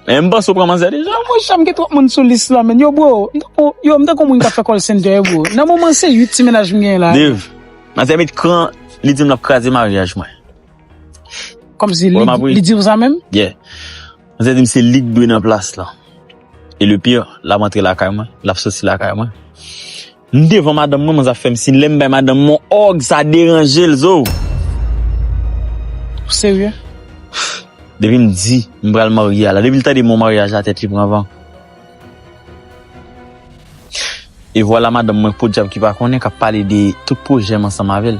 Eeh m panse ou pran manzè deja. Mwen janm gen twòp moun sou lis la menn yo bro yo m tankou moun kap fè call center yo bro nan moman se 8 ti mennaj m genyen la. Dave, manzè met kran li dim lap kraze maryaj mwen. Kòmsi li diw sa menm? Yeah. Manzè dim se lik dwe nan plas lan. E le pire lap antre lakay mwen, lap soti lakay mwen. M devan madanm mwen mwen zap fèm sin lèm bay madanm mwen on òg sa deranjel zoow. Ou serye? Depim di m pral marye a la depil tande mo maryaj la tèt li pran van. E vwala madanm mwen podyab ki pa konnen kap pale de tout pwojèm ansanm avèl.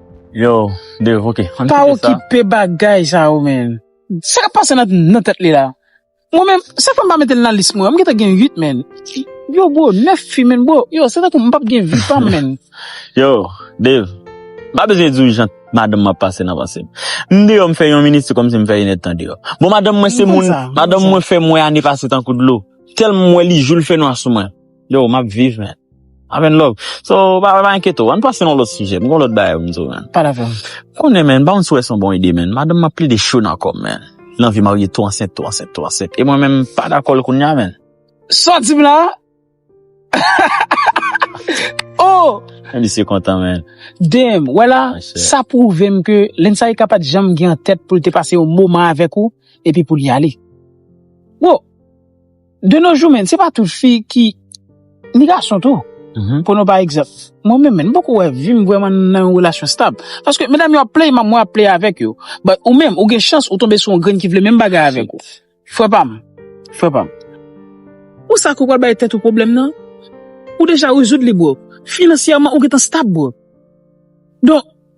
Yo Dave ok ann kite sa. Pa okipe bagay sa yo menn. Sa kap pase nan tèt li la. Mwen menm sa fèm pa metel nan lis mwen an m gentan gen 8 menn. Yo bro 9 fi menn bro yo se tankou m pap gen vi pam menn. Yo Dave m pa bezwen diw jan madanm mwen ap pase nan pansem. M deyò m fè yon minit se kòmsi m fè yn èdtan deyò. Bon madanm mwen se moun madanm mwen fèm wè ane pase tankou dlo. Tèlman m wè li joul fè nwa sou mwen. Yo map viv men. Amen love. So pa pa enkyete w. Ann pase nan lòt sijè. M gen yon lòt bagay pou m di w men. Pale avè m. M konnen men, m pa konn si w wè s on bon ide men. Madanm m ap plede cho nan kò m men. Li anvi marye tou ansent, tou ansent, tou ansent. E mwen menm m pa dakò l kounya men. Sa w di m la? Oh! Men misye kontan men. Damn! Wè la? Sa pwouve m ke Lensaika pa t janm gen an tèt pou l te pase yon moman avèk ou epi pou l y ale. Wow! De nos jours men, se pa tout fi ki, ni gason tou, pweno pa egzanp, mwen menm men, m poko wè vi m vrèman nan yon relasyon stab. Paske medam yo ap play m, mwen ap play avèk yo. But ou menm, ou gen chans ou tonbe sou yon grenn ki vle menm bagay avèk ou. Frè pa m. Frè pa m. Ou sa ke w pral bay tèt ou pwoblèm nan? Ou deja rezoud li bro. Finansyèman ou gentan stab bro. Donk.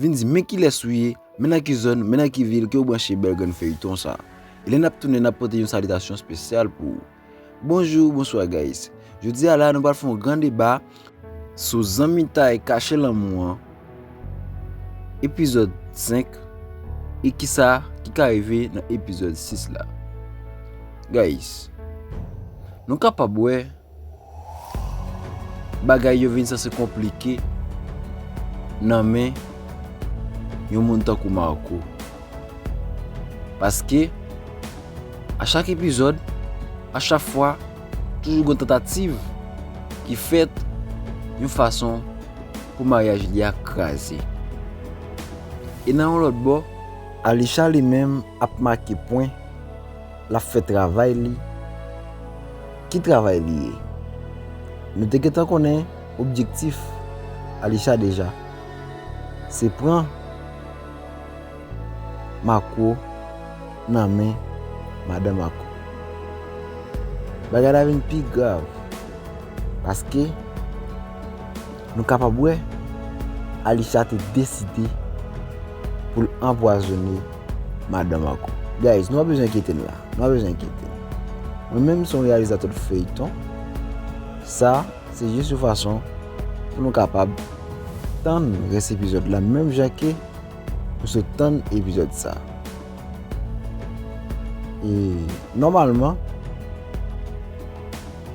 Vin di men kilès ou ye, men nan ki zòn, men nan ki vil ke ou branche bèl grenn feyton sa. E lè nap tounen nap pote yon salitasyon spesyal pou ou. Bonjou, bonswa guys. Jodi a la nou pral fè yon gran deba sou zanmitay kache lanmou an epizòd 5 e kisa ki ka rive nan epizòd 6 la. Guys, nou kapab wè. Bagay yo vin sanse konplike nan men yon moun tankou Marco. Paske, a chak epizòd, a chak fwa, toujou gwen tentativ ki fèt yon fason pou maryaj li a kraze. E nan yon lòt bò, Alisha li menm ap make pwen. L ap fè travay li. Ki travay li ye? Nou te gentan konnen objektif Alisha deja. Se pran Marco nan men madan Marco. Bagay la vin pi grav paske. Nou kapab wè, Alisha te deside pou l anpwazone madan Marco. Guys, nou pa bezwen enkyete n la. Nou pa bezwen enkyete n. Mwen menm son reyalizatè de feyton. Sa, se jis yon fason pou nou kapab tann rès epizòd la menm jan ke nou sot tann epizòd sa. E, nòmalman,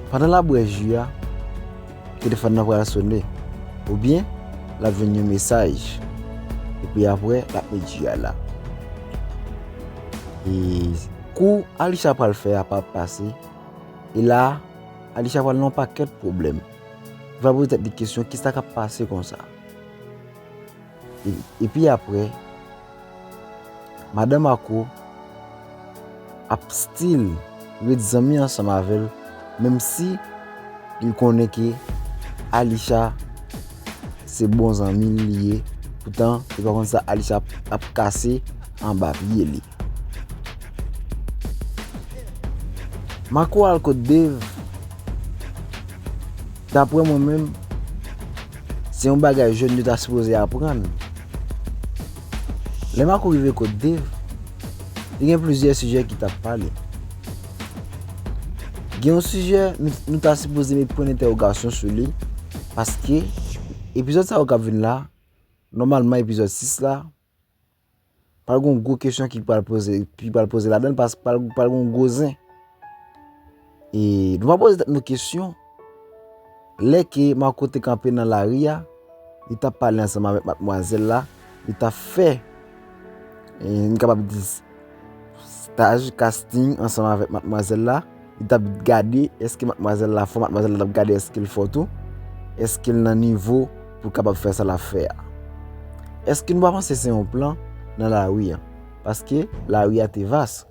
pandan l ap bwè ju a, Telefòn nan pral sone, oubyen l ap jwenn yon mesaj. Epi apre, l ap met ji a la. E kou Alisha pral fè a pa ap pase. E la, Alisha pral nan pakèt pwoblèm. Li pral poze tèt li kesyon, kisa k ap pase konsa? Epi aprè, madan Marco ap still ret zanmi ansanm avèl menm si li konnen ke Alisha se bon zanmil li ye poutan li pa konn sa Alisha ap kase anba pye li. Marco al kot Dave Daprè mwen menm Se yon bagay jèn yo ta sipoze aprann Lè Marco rive kot Dave Te gen plizyè sijè ki tap pale Gen yon sijè nou ta sipoze met pwen entèwogasyon sou li Paske Epizòd sa yo kap vin la Nòmalman epizòd 6 la Pral gen yon gwo kesyon ki pral poze, ki pral poze ladan, paske pral gen yon gwo zen. E, nou va poze tèt nou kesyon, lè ke Marco te kanpe nan lari a, li ta pale ansanm avèk matmwazèl la, li ta fè, e, nou kapab di, Staj, casting, ansanm avèk matmwazèl la, li t ap gade èske matmwazèl la fò, matmwazèl la t ap gade èske l fò tou, èske l nan nivo pou l kapab fè sa l ap fè a. Èske nou pa panse se yon plan nan lari an? Paske lari a te vas.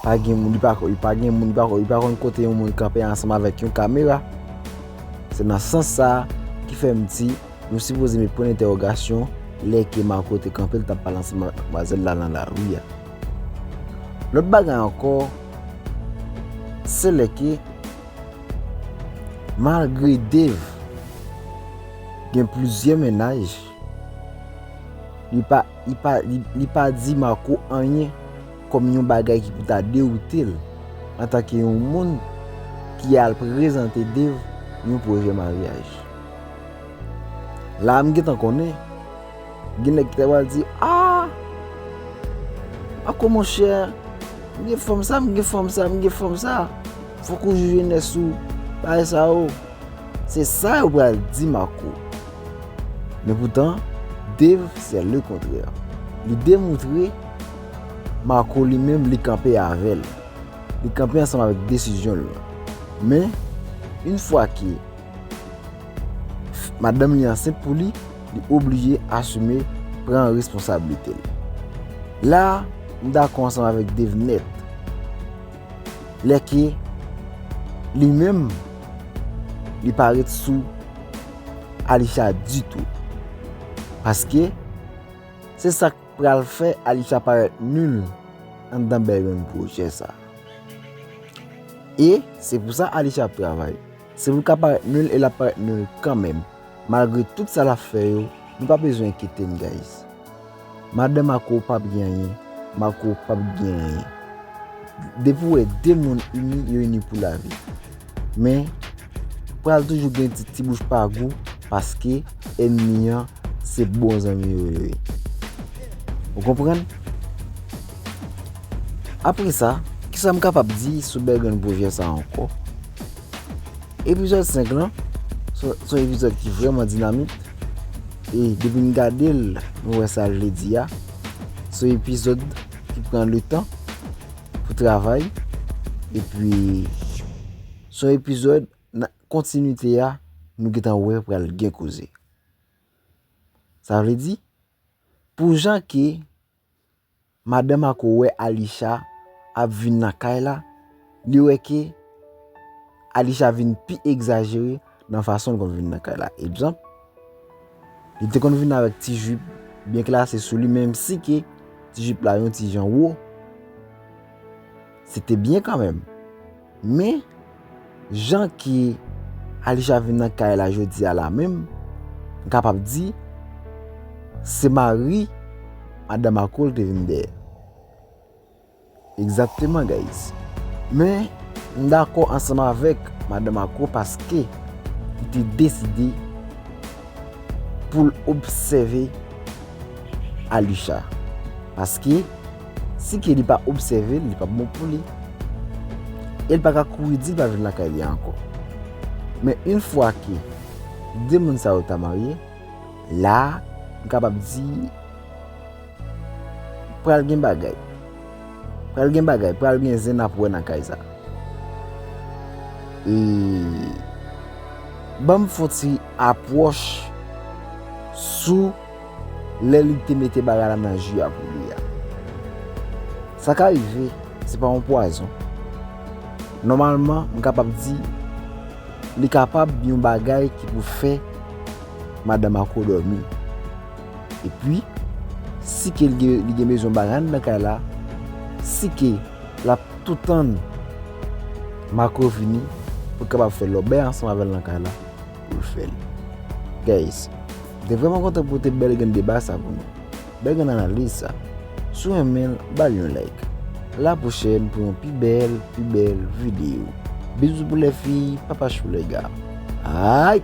Pa gen moun, li pa konn, li pa gen moun, li pa konn, li pa konn kote yon moun kanpe ansanm avèk yon kamera. Se nan sans sa a ki fè m di, nou sipoze met pwen entèwogasyon lè ke Marco te kanpe l t ap pale ansanm avèk madmwazèl la nan lari a. Lòt bagay ankò, se lè ke malgre Dave gen plizyè mennaj, li pa, li pa, li pa di Marco anyen. kòm yon bagay ki pou ta dewoute l antanke yon moun ki al prezante Dave yon pwojè maryaj. La a m gentan konnen, gen nèg ki ta pral di, A! Ako monchè, m gen fanm sa, m gen fanm sa, m gen fanm sa, fòk ou jije jenès ou pa e sa yo. Se sa yo pral di m ako. Men poutan, Dave se le kontrè. Li demoutre. Marco li menm li kanpe avè l. Li kanpe ansanm avèk desizyon l lan. Men, yn fwa ke madanm li ansent pou li, li oblije asime, pran responsablite l. La, m dakò ansanm avèk Dave nèt. Lè ke li menm li pa ret sou Alisha ditou. Paske, se sa k. Pral fè Alysha parèt nul anndan bèl grenn pwojè sa. E se pou sa Alysha ap travay. Se pou l ka parèt nul e l ap parèt nul kanmenm. Malgre tout sa l ap fè yo, nou pa bezwen enkyete n guys. Madan Marco pa p gen anyen, Marco pa p gen anyen. Depi w wè 2 moun ini, yo ini pou lavi. Men, pral toujou gen ti ti bouch pa gou paske enmi an se bon zanmi ou yo ye. Ou konprann? Apre sa, ki sa m kapab di sou bèl grenn pwojè sa ankò? Epizòd 5 lan, son epizòd ki vreman dinamik, e depi m gade l, m wè sa l vle di a, son epizòd ki pran le tan pou travay, epi... Son epizòd nan kontinite a nou gentan wè pral gen koze. Sa vle di, pou jan ke Madan Mako wè Alisha ap vin nan kay la, li wè ke Alisha vin pi egzajere Nan fason l konn vin nan kay la. Egzanp, Li te konn vin avèk ti jup byen klase sou li menmsi ke ti jup la yon ti jan wo. Se te byen kanmenm. Men, jan ke Alisha vin nan kay la jodi a la menm, m kapab di, se mari madan Marco l te vin dèyè. Exactement guys men m dakò ansanm avèk madan Marco paske li te deside poul obsève Alicha paske si Kelly pa obsèvel li pap bon pou li el pa ka kouri dil pa vin lakay li ankò men yn fwa ke 2 moun sa yo ta marye la m kapab di Pral gen bagay Pral gen bagay Pral gen zen nap wè nan kay sa E Banm fon ti apwòch Sou Lè li te mete bagay la nan ju a pou li a Sa ka rive Se pa yon pwazon Nòmalman m kapab di Li kapab yon bagay ki pou fè Madan Marco dòmi Epi, si ke li gen bezwen banann nan kay la, si ke l ap tou tann Marco vini pou l kapab fè lòbèy ansanm avè l nan kay la, pou l fè l. Guys, m te vrèman kontan pote bèl grenn deba sa pou nou. Bèl grenn analiz sa. Si w renmen l, ba l yon like. A la pwochèn pou yon pi bèl, pi bèl videyo. Bisous pou lè fi, papachou lè ga. Ayy!